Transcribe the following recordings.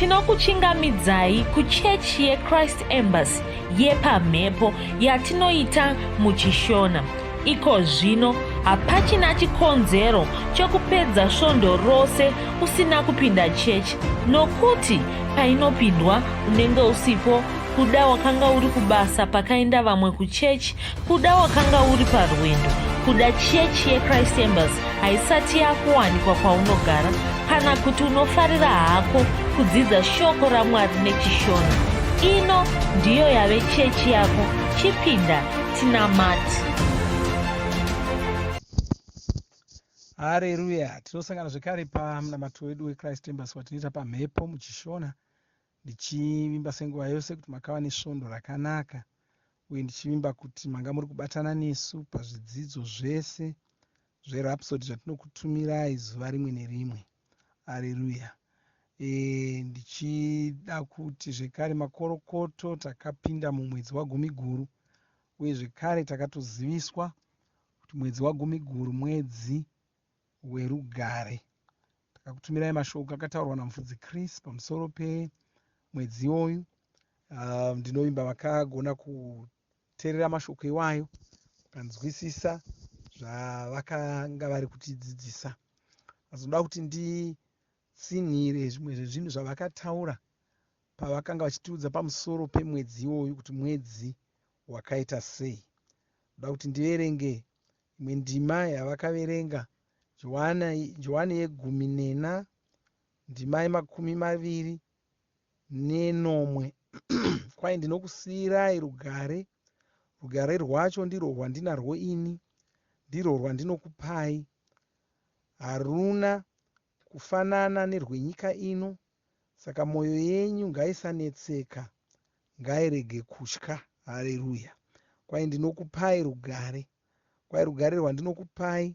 Tinokuchingamidzai kuchechi yeChrist Embassy yepamhepo yatinoita muChishona. Iko zvino hapachina chikonzero chokupedza svondo rose usina kupinda chechi nokuti painopindwa unenge usipo kuda wakanga uri kubasa pakaenda vamwe kuchechi Kuda wakanga uri parwendo kuda chechi yechrist embers haisati yakuwanikwa kwaunogara kana kuti unofarira hako kudzidza shoko ramwari nechishona ino ndiyo yave chechi yako chipinda tinamati hareruya tinosangana zvekare pamunamato wedu wechrist embers watinoita pamhepo muchishona ndichivimba senguva yose kuti makava nesvondo rakanaka uye ndichivimba kuti manga muri kubatana nesu pazvidzidzo zvese zveRhapsody zvatinokutumirai zuva rimwe nerimwe. Areruya! E, ndichida kuti zvekare makorokoto takapinda mumwedzi waGumiguru, uye zvekare takatoziviswa kuti mwedzi waGumiguru mwedzi werugare. Ndakakutumirai mashoko akataurwa naMufudzi Chris pamusoro pemwedzi iwoyu. Uh, ndinovimba vakagona kuteerera mashoko iwayo vakanzwisisa zvavakanga vari kutidzidzisa. Vazoda kuti nditsinhire zvimwe zvezvinhu zvavakataura pavakanga vachitiudza pamusoro pemwedzi iwoyu kuti mwedzi wakaita sei. Ndoda kuti ndiverenge imwe ndima yavakaverenga Johane yegumi nena ndima yemakumi maviri nenomwe Kwai ndinokusiyirai rugare, rugare rwacho ndirwo rwandinarwo ini, ndirwo rwandinokupai. Haruna kufanana nerwenyika ino, saka mwoyo yenyu ngaisanetseka, ngairege kutya. Hareruya! Kwai ndinokupai rugare. kwai rugare rwandinokupai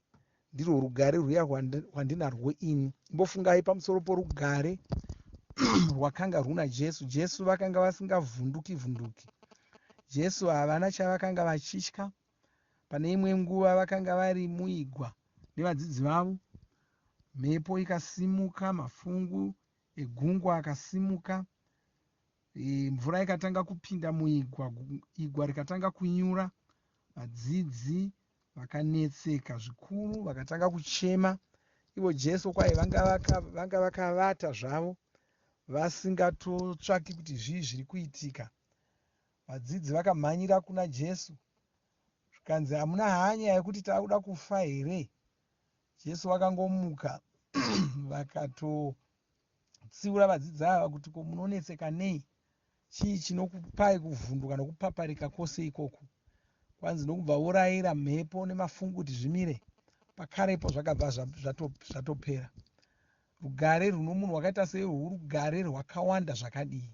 ndirwo rugare rwuya rwandinarwo ini imbofungai pamusoro porugare rwakanga rwuna jesu jesu vakanga vasingavhunduki vhunduki jesu havana chavakanga vachitya pane imwe nguva vakanga vari muigwa nevadzidzi vavo mhepo ikasimuka mafungu egungwa akasimuka e, mvura ikatanga kupinda muigwa igwa rikatanga kunyura vadzidzi vakanetseka zvikuru vakatanga kuchema ivo jesu kwaye vanga vakavata zvavo vasingatotsvaki kuti zvii zviri kuitika vadzidzi vakamhanyira kuna jesu zvikanzi hamuna hanya yekuti takuda kufa here jesu vakangomuka vakato kutsiura vadzidzi ava kuti ko munonetseka nei chii chinokupai kuvhunduka nokupaparika kwose ikoku kwanzi nokubva vorayira mhepo nemafungu kuti zvimire pakarepo zvakabva zvatopera rugare rwuno munhu wakaita seiwo urugare rwakawanda zvakadii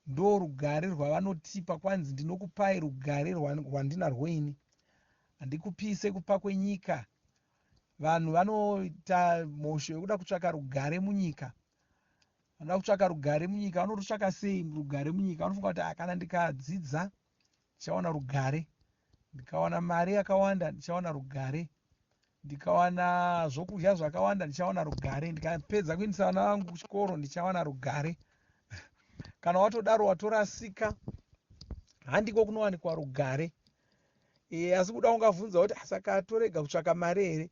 ndo rugare rwavanotipa kwanzi ndinokupai rugare rwandinarwo ini handikupise kupa kwenyika Vanhu vanoita mhosho yekuda kutsvaka rugare munyika vanoda kutsvaka rugare munyika vanototsvaka sei rugare munyika vanofunga kuti ah, kana ndikadzidza ndichawana rugare ndikawana mari yakawanda ndichawana rugare ndikawana zvokudya zvakawanda ndichawana rugare ndikapedza kuindisa vana vangu kuchikoro ndichawana rugare kana watodaro watorasika handiko kunowanikwa rugare e, asi kuda ungavhunza kuti asaka torega kutsvaka mari here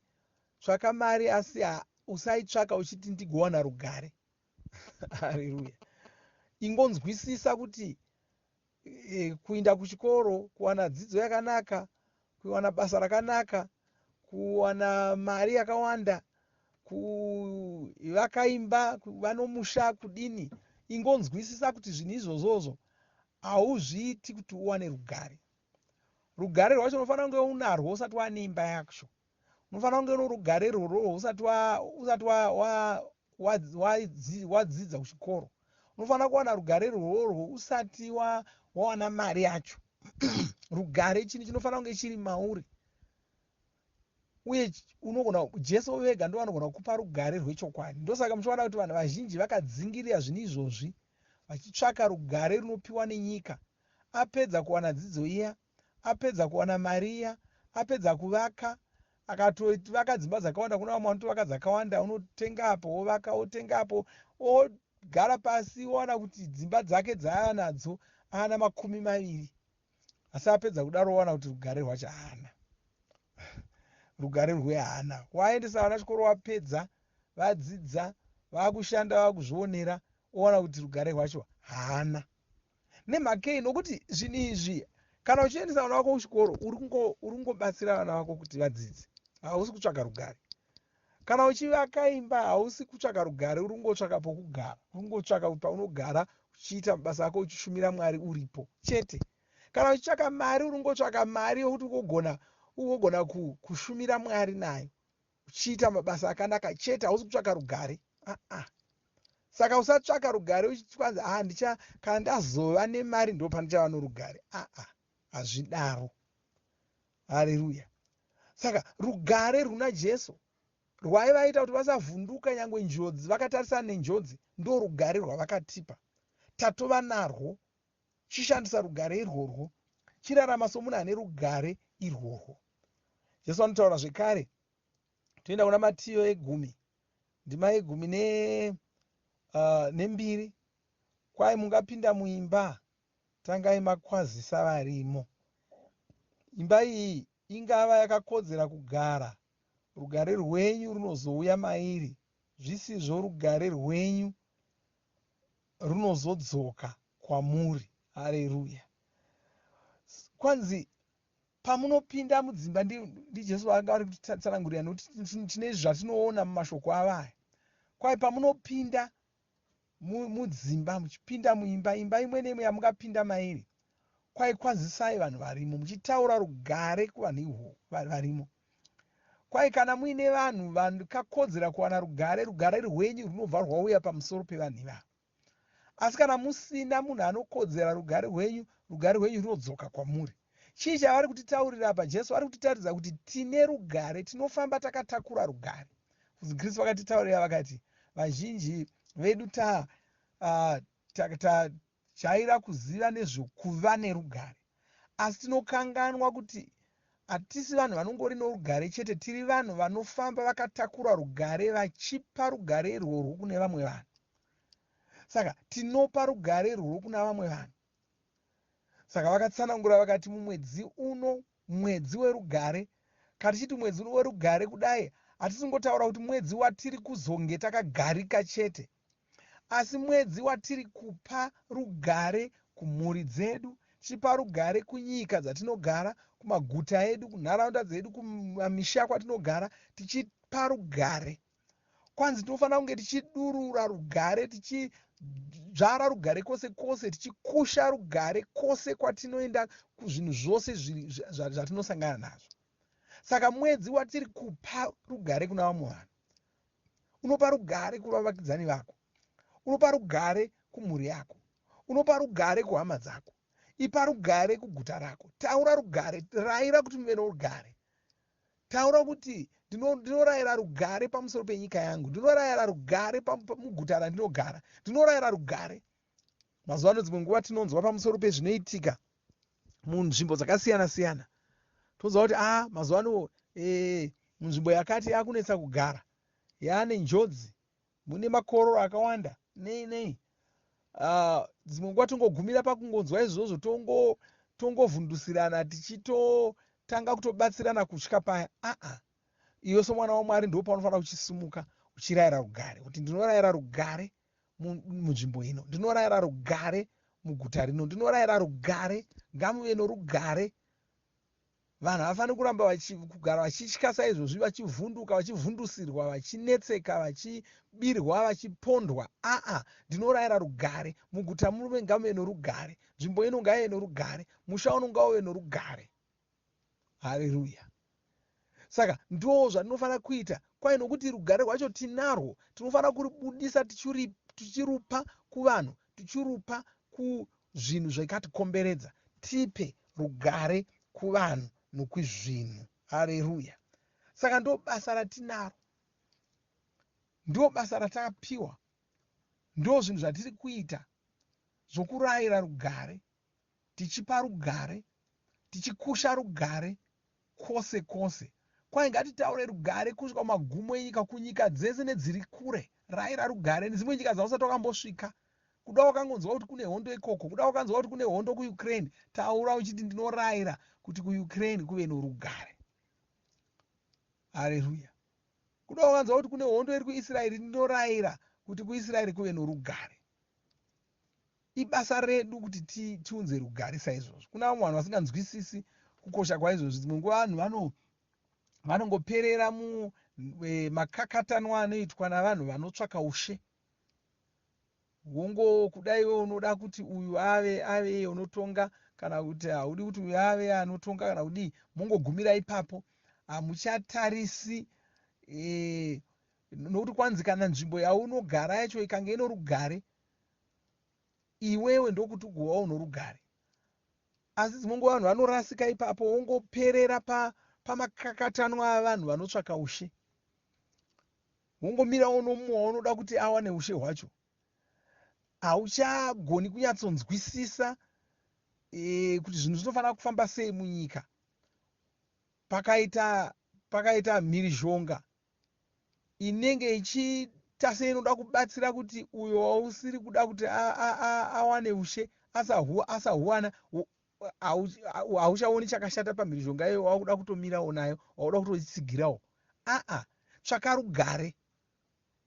tsvaka mari asi usaitsvaka uchiti ndigowana rugare hariruya ingonzwisisa kuti e, kuinda kuchikoro kuwana dzidzo yakanaka kuwana basa rakanaka kuwana mari yakawanda kuvakaimba kuva nomusha kudini ingonzwisisa kuti zvinhu izvozvozvo hauzviiti kuti uwane rugare rugare rwacho unofanira kunge unarwo usati waane imba yacho unofanira kunge norugare rwororo usati wadzidza kuchikoro unofanira kuwana rugare rworwo usati wawana mari yacho rugare chinhu chinofanira kunge chiri mauri uye unogona jesu vega ndo vanogona kukupa rugare rwechokwadi ndosaka muchiona kuti vanhu vazhinji vakadzingirira zvinhu izvozvi vachitsvaka rugare runopiwa nenyika apedza kuwana dzidzo iya apedza kuwana mari iya apedza kuvaka akatovaka dzimba dzakawanda kuna vamwe vanotovaka dzakawanda unotenga apo wovaka wotenga apo ogara pasi wowana kuti dzimba dzake dzaanadzo aana makumi maviri asi apedza kudaro owana kuti rugare rwacho haana rugare rwehaana waendesa vana chikoro wapedza vadzidza vakushanda vakuzvionera owana kuti rugare rwacho haana nemhakei nokuti zvinhu izvi kana uchiendesa vana vako kuchikoro uri kungobatsira vana vako kuti vadzidze hausi kutsvaka rugare Kana uchivaka imba hausi kutsvaka rugare uri kungotsvaka pokugara, uri kungotsvaka kuti paunogara uchiita mabasa ako uchishumira Mwari uripo chete. Kana uchitsvaka mari uri kungotsvaka mari yokuti ugogona ugogona kushumira Mwari nayo uchiita mabasa akanaka chete, hausi kutsvaka rugare. Aa saka usatsvaka rugare uchikwanzi a ah, ndicha kana ndazova nemari ndo pandichava norugare. Aa hazvidaro. Hareruya! Saka rugare runa Jesu rwaivaita kuti vasavhunduka nyangwe njodzi, vakatarisana nenjodzi, ndorugare rwavakatipa. Tatova narwo. Chishandisa rugare irworwo. Chirarama somunhu ane rugare irworwo. Jesu anotaura zvekare, toenda kuna Matiyo egumi, ndima yegumi ne, uh, nembiri, kwai mungapinda muimba tangai makwazisa varimo. Imba iyi ingava yakakodzera kugara, rugare rwenyu runozouya mairi zvisizvo rugare rwenyu runozodzoka kwamuri. Hareruya. Kwanzi pamunopinda mudzimba ndijesu vaanga vari kutitsanangurira nekuti tine izvi zvatinoona mumashoko avo aya kwai pamunopinda mudzimba muchipinda muimba imba imwe neimwe yamungapinda mairi kwai kwanzisai vanhu varimo muchitaura rugare kuvanhu ihwo varimo kwai kana muine vanhu vakakodzera kuwana rugare rugare rwenyu rwunobva rwauya pamusoro pevanhu ivavo asi kana musina munhu anokodzera rugare rwenyu rugare rwenyu rwunodzoka kwamuri Chii chavari kutitaurira apa? Jesu vari kutitaridza kuti tine rugare, tinofamba takatakura rugare. Futi Kristu vakatitaurira vakati, vazhinji vedu ta, uh, ta, ta, jaira kuziva nezvekuva nerugare asi tinokanganwa kuti hatisi vanhu vanongori norugare chete tiri vanhu vanofamba vakatakura rugare vachipa rugare irworwo kune vamwe vanhu saka tinopa rugare irworwo kuna vamwe vanhu Saka vakatsanangura vakati mumwedzi uno mwedzi werugare. Kana tichiti mwedzi uno werugare kudai hatisi kungotaura kuti mwedzi watiri kuzonge takagarika chete asi mwedzi watiri kupa rugare kumhuri dzedu tichipa rugare kunyika dzatinogara kumaguta edu kunharaunda dzedu kumamisha kwatinogara tichipa rugare kwanzi tinofanira kunge tichidurura rugare tichidzvara rugare kwose kwose tichikusha rugare kwose kwatinoenda kuzvinhu zvose zvatinosangana nazvo saka mwedzi watiri kupa rugare kuna vamwe vanhu unopa rugare kuvavakidzani vako unopa rugare kumhuri yako unopa rugare kuhama dzako ipa rugare kuguta rako taura rugare raira kuti muve norugare Taura kuti, ndino, Ndinorayira rugare pamusoro penyika yangu. Ndinorayira rugare muguta randinogara. Ndinorayira rugare. Mazuva ano dzimwe nguva tinonzwa pamusoro pezvinoitika munzvimbo dzakasiyana-siyana. Tonzwa kuti, aa, ah, mazuva ano e, munzvimbo yakati yakunetsa kugara. Yaane njodzi. mune makororo akawanda nei nei ah, dzimwe nguva tongogumira pakungonzwa izvozvo tongovhundusirana tichitotanga kutobatsirana kutya paya aa iwe somwana wamwari ndo paunofanira kuchisimuka uchirayira rugare kuti ndinorayira rugare munzvimbo ino ndinorayira rugare muguta rino ndinorayira rugare ngamuve norugare Vanhu havafaniri kuramba vachi, kugara vachitya saizvozvi, vachivhunduka, vachivhundusirwa, vachinetseka, vachibirwa, vachipondwa. Aa, ndinorayira rugare. Muguta murume ngamuve norugare. Nzvimbo ino ngaive norugare. Musha uno ngauve norugare. Hareruya. Saka ndoo zvandinofanira kuita kwaye nokuti rugare rwacho tinarwo tinofanira kuribudisa tichirupa kuvanhu tichirupa zvinhu zvakatikomberedza tipe rugare kuvanhu nokwizvinhu. Hareruya. Saka ndobasa ratinaro. Ndobasa ratakapiwa. Ndozvinhu zvatiri kuita zvokurayira rugare, tichipa rugare, tichikusha rugare, Kwose kwose, kwai ngatitaure rugare kusvika kumagumo enyika, kunyika dzese nedziri kure. Raira rugare nedzimwe nyika dzausati wakambosvika. Kuda wakangonzwa kuti kune hondo ikoko, kuda wakanzwa kuti kune hondo kuUkraine, taura uchiti ndinoraira kuti kuUkraine kuve norugare. Hareruya. Kuda wakanzwa kuti kune hondo iri kuIsraeri, ndinoraira kuti kuIsraeri kuve norugare. Ibasa redu kuti ti, tiunze rugare saizvozvo. Kuna vamwe vanhu vasinganzwisisi kukosha kwaizvozvo, dzimwe nguva vanhu vano vanongoperera mu e, makakatanwa anoitwa navanhu vanotsvaka ushe wongo kuda iwe unoda kuti uyu ave ave iye unotonga kana kuti haudi kuti uyu ave anotonga kana kudii mongogumira ipapo hamuchatarisi e, nokuti kwanzi kana nzvimbo yaunogara yacho ikange ino rugare iwewe ndokuti ugovawo norugare asi dzimwe nguva vanhu vanorasika ipapo wongoperera pamakakatanwa pa avanhu vanotsvaka ushe wongomira wonomumwe waunoda kuti awane ushe hwacho hauchagoni kunyatsonzwisisa e, kuti zvinhu zvinofanira kufamba sei munyika pakaita pakaita mhirizhonga inenge ichiita seinoda kubatsira kuti uyo wausiri kuda kuti awane ushe asahuwana hauchaoni chakashata pamhirizhonga iyoyo wakuda kutomirawo nayo wakuda kutotsigirawo aa tsvaka rugare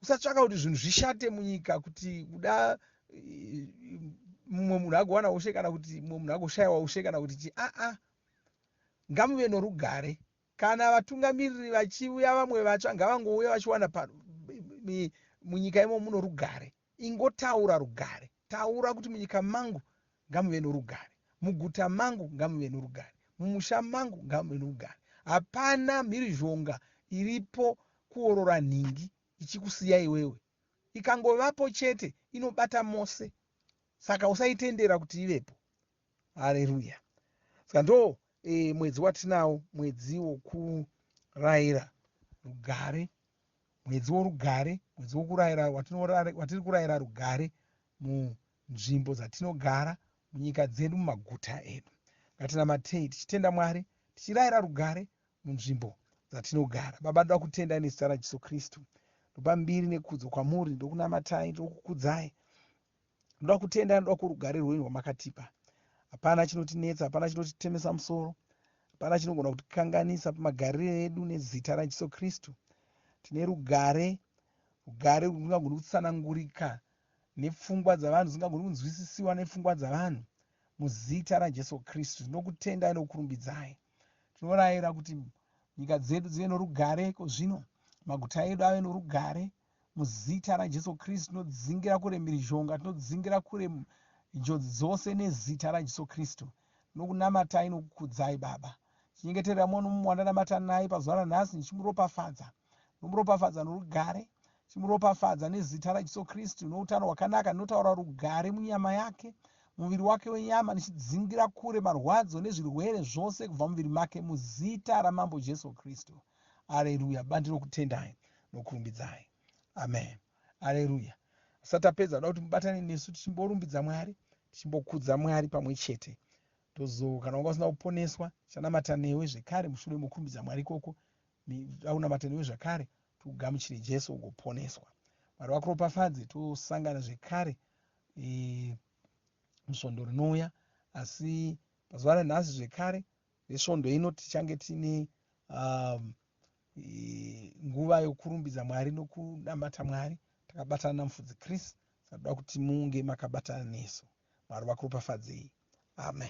usatsvaka kuti zvinhu zvishate munyika kuti kuda mumwe munhu agowana ushe kana kuti mumwe munhu agoshayiwa ushe kana kuti chi aa ngamuve norugare Kana vatungamiriri vachiuya vamwe vatsva ngavangouya vachiwana pano munyika imo muno rugare ingotaura rugare taura kuti munyika mangu ngamuve norugare muguta mangu ngamuve norugare mumusha mangu ngamuve norugare hapana mhirizhonga iripo kuorora nhingi ichikusiya iwewe ikangovapo chete inobata mose saka usaitendera kuti ivepo Hareruya. Ska ndo e, mwedzi watinawo, mwedzi wokuraira rugare, mwedzi worugare, mwedzi wokuraira watiri kuraira rugare munzvimbo dzatinogara, munyika dzedu, mumaguta edu. Ngatinamatei tichitenda Mwari, tichiraira rugare munzvimbo dzatinogara. Baba, ndoda kutendai nezita raJesu Kristu. Ndopa mbiri nekudzo kwamuri, ndokunamatai, ndokukudzai Ndoda kutenda, ndoda kurugare rwenyu rwamakatipa. Hapana chinotinetsa, hapana chinotitemesa musoro, hapana chinogona kutikanganisa pamagarire edu nezita raJesu Kristu. Tine rugare, rugare rwungagoni kutsanangurika nepfungwa dzavanhu, dzingagoni kunzwisisiwa nepfungwa dzavanhu. Muzita raJesu Kristu tinokutendai nokukurumbidzai. Tinorayira kuti nyika dzedu dzive norugare iko zvino, maguta edu ave norugare. Muzita raJesu Kristu tinodzingira kure mhirizhonga, tinodzingira kure njodzi dzose nezita raJesu Kristu. Tinokunamatai nokukudzai Baba. Chinyengeterera mwana mumwe wandanamata naye pazuva ranhasi ndichimuropafadza. Nomuropafadza norugare, chimuropafadza nezita raJesu Kristu noutano hwakanaka. Ndinotaura rugare munyama yake, muviri wake wenyama, ndichidzingira kure marwadzo nezvirwere zvose kubva muviri make muzita raMambo Jesu Kristu. Aleluya. Baba ndinokutendai nokurumbidzai. Amen. Aleluya. Asati apedza kuda kuti mubatane nesu tichimborumbidza Mwari, tichimbokudza Mwari pamwe chete. Tozo kana wanga usina kuponeswa, chanamata newe zvekare mushure mokurumbidza Mwari ikoko, aunamata newe zvakare, tugamuchire Jesu ugoponeswa. Mwari vakuropafadze, tosangana zvekare e, musvondo rinouya, asi pazuva ranhasi zvekare Nesvondo ino tichange tine um, nguva yokurumbidza Mwari nokunamata Mwari takabatana naMufudzi Chris. Tinoda kuti munge makabatana nesu. Mwari vakuropafadzei. Amen.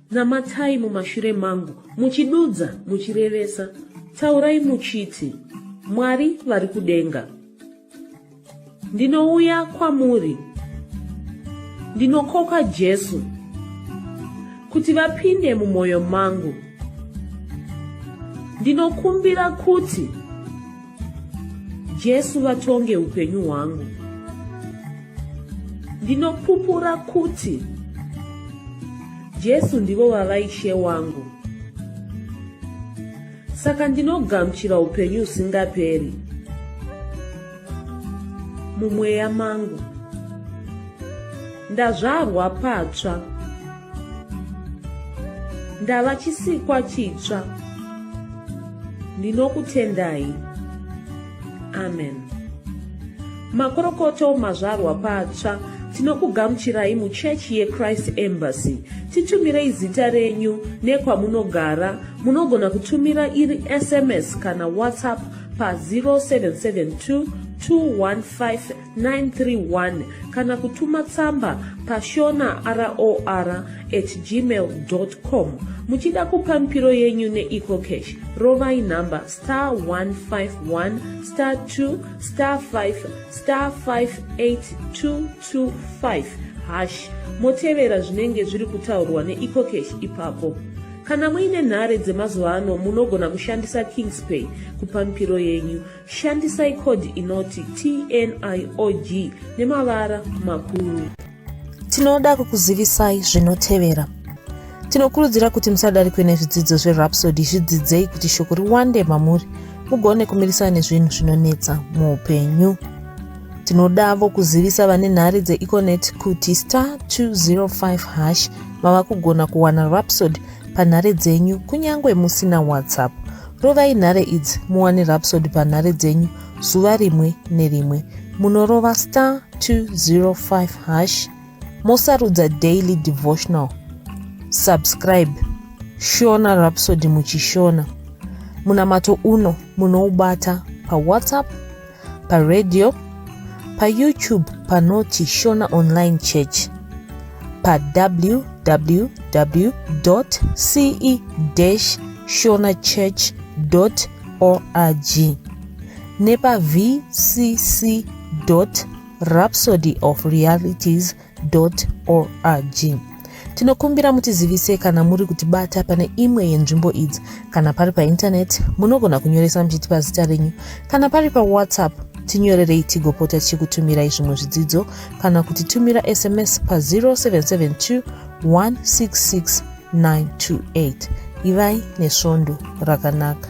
Namatai mumashure mangu, muchidudza, muchirevesa. Taurai muchiti, Mwari vari kudenga. Ndinouya kwamuri. Ndinokoka Jesu kuti vapinde mumwoyo mangu. Ndinokumbira kuti Jesu vatonge upenyu hwangu. Ndinopupura kuti Jesu ndivo vava ishe wangu. Saka ndinogamuchira upenyu usingaperi mumweya mangu. Ndazvarwa patsva. ndava chisikwa chitsva ndinokutendai amen makorokoto mazvarwa patsva tinokugamuchirai muchechi yechrist embassy titumirei zita renyu nekwamunogara munogona kutumira iri sms kana whatsapp pa 0772 215 931 kana kutuma tsamba pashona ror at gmail com muchida kupa mipiro yenyu neecocash rovai nhamba star 151 star 2 star 5 star 58225 hash motevera zvinenge zviri kutaurwa neecocash ipapo kana muine nhare dzemazuva ano munogona kushandisa kingspay kupa mipiro yenyu Shandisai code inoti TNIOG nemavara makuru. Tinoda kukuzivisai zvinotevera. Tinokurudzira kuti musadarikwe nezvidzidzo zveRhapsody zvidzidzei kuti shoko riwande mamuri mugone kumirisana nezvinhu zvinonetsa muupenyu. Tinodavo kuzivisa vane nhare dzeEconet kuti star 205 hash mava kugona kuwana Rhapsody panhare dzenyu kunyange musina WhatsApp. Rovai nhare idzi muwane Rhapsody panhare dzenyu zuva rimwe nerimwe. Munorova star 205 hash mosarudza daily devotional. Subscribe Shona Rhapsody muchishona. Munamato uno munoubata paWhatsApp paradio payoutube panoti shona online church pawww ce shona church org nepavcc rhapsody of realities org tinokumbira mutizivise kana muri kutibata pane imwe yenzvimbo idzi kana pari paintaneti munogona kunyoresa muchitipa zita renyu kana pari pawhatsapp tinyorerei tigopota tichikutumirai zvimwe zvidzidzo kana kuti tumira sms pa 0772 166 928 ivai nesvondo rakanaka